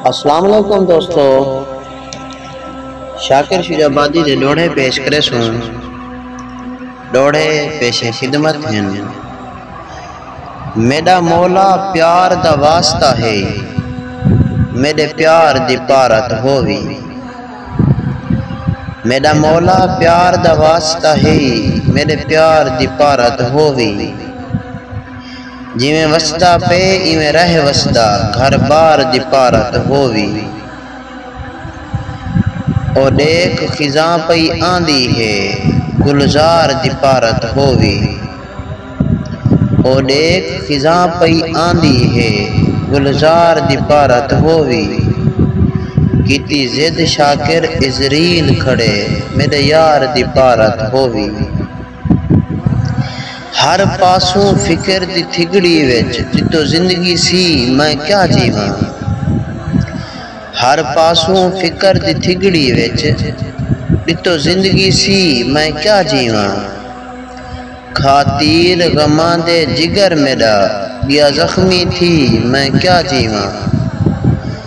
السلام علیکم دوستو شاکر شیر آبادی دے ڈوڑے پیش کرے سوں ڈوڑے پیش خدمت ہیں میڈا مولا پیار دا واسطہ ہے میڈے پیار دی پارت ہووی میڈا مولا پیار دا واسطہ ہے میڈے پیار دی پارت ہووی جیویں وسدا پئے ایویں رہ وسدا گھر بار دی پارت ہو وی او ڈیکھ خزاں پئی آندی ہے گلزار دی پارت ہو وی او ڈیکھ خزاں پئی آندی ہے گلزار دی پارت ہو وی کیتی ضد شاکر عزریل کھڑے میڈے یار دی پارت ہو وی۔ ہر پاسوں فکر دی تھڳڑی وچ جتوں زندگی سی میں کیا جیواں ہر پاسوں فکر دی تھڳڑی وچ جتوں زندگی سی میں کیا جیواں کھا تیر غماں دے جگر میݙا ڳیا زخمی تھی میں کیا جیواں۔